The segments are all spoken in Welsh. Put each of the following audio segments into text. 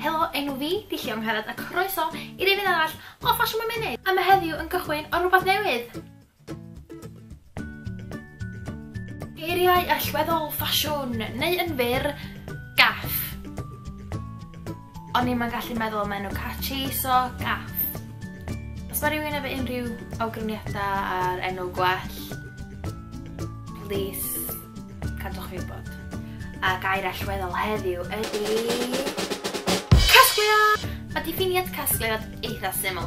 Helo, enw fi, di Llio Angharad, a croeso i'r efydd arall o Ffasiwn Mewn Munud. A mae heddiw yn gychwyn o rhywbeth newydd. Geiriau allweddol ffasiwn, neu yn fyr, gaff. O'n i'm yn gallu meddwl am enw catchy, so gaff. Os mae rhywun efo unrhyw awgrymiadau ar enw gwell, please, cadwch fi wybod. A gair allweddol heddiw ydy... Mae diffiniad casgliad eitha syml.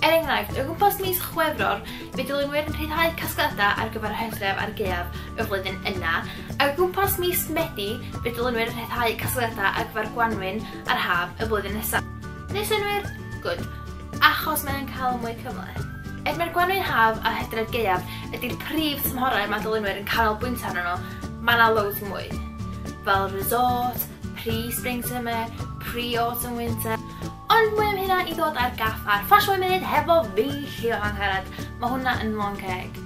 Er enghraifft, o gwmpas mis Chwefror, fe dylunwyr yn rhyddhau casgliadau ar gyfer y hydref a'r gaeaf y flwyddyn yna, O gwmpas mis Medi fe dylunwyr rhyddhau casgliadau ar gyfer gwanwyn a'r haf y flwyddyn nesaf. Neu synnwyr? Gwd. Achos mae e'n cael mwy cymhleth. Er mae'r gwanwyn haf a hydref gaeaf ydy'r prif tymhorau mae dylunwyr yn canolbwyntio arnyn nhw, mae 'na loads mwy. Fel resort, pre-spring summer, pre-autumn winter. Ond mwy am hynna i ddod ar gaffar Fashion Women hefo fi, Llio Angharad. Mae hwnna yn Long Ceg.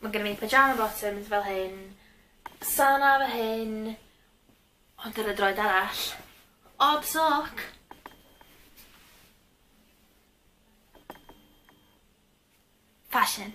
Mae gennym ni pyjama bottoms fel hyn, sana fy hyn, ond ar y droed arall, odd sock! Fashion.